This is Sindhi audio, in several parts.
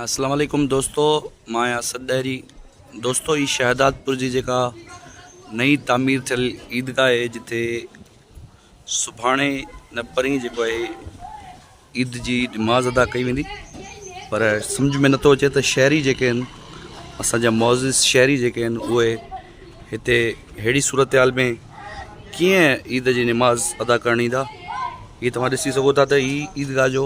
اسلام عليڪم دوستو مان آهيان اسد ڏهري دوستو هي شهدادپور جي جيڪا نئي تعمير ٿيل عيدگاهه آهي جتي سڀاڻي نه پرين جيڪو آهي عيد جي نماز ادا ڪئي ويندي پر سمجھ ۾ نٿو اچي ته شهري جيڪي آهن اسانجا معزز شهري جيڪي آهن اهي هتي اهڙي صورتحال ۾ ڪيئن عيد جي نماز ادا ڪرڻ ايندا هي توهان ڏسي سگھو ٿا ته هي عيدگاهه جو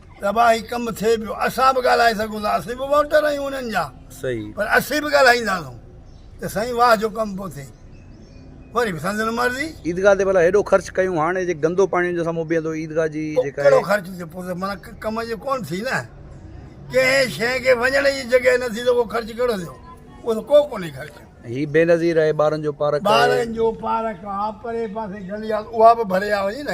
تباهي ڪم ٿئي پيو اسان به ڳالهائي سگهون ٿا اسين به ووٽر آهيون انهن جا صحيح پر اسين به ڳالهائينداسون ته سائين واهه جو ڪم پيو ٿئي وري به سندن مرضي عيدگاهه تي ڀلا هيڏو خرچ ڪيون هاڻي جي گندو پاڻي جو سامهون بيهندو عيدگاهه جي پوء جيڪا ڪهڙو خرچ ٿيو پوء ته مانا ڪم جي ڪون ٿي نه ڪنهن شيء کي وڃڻ جي جڳهه نه ٿي ته اهو خرچ ڪهڙو ٿيو اهو ته ڪو ڪونهي خرچ هي بينظير آهي ٻارن جو پارڪ آهي ٻارن جو پارڪ آهي پري پاسي گلي آهي اها به ڀري آ وڃي نه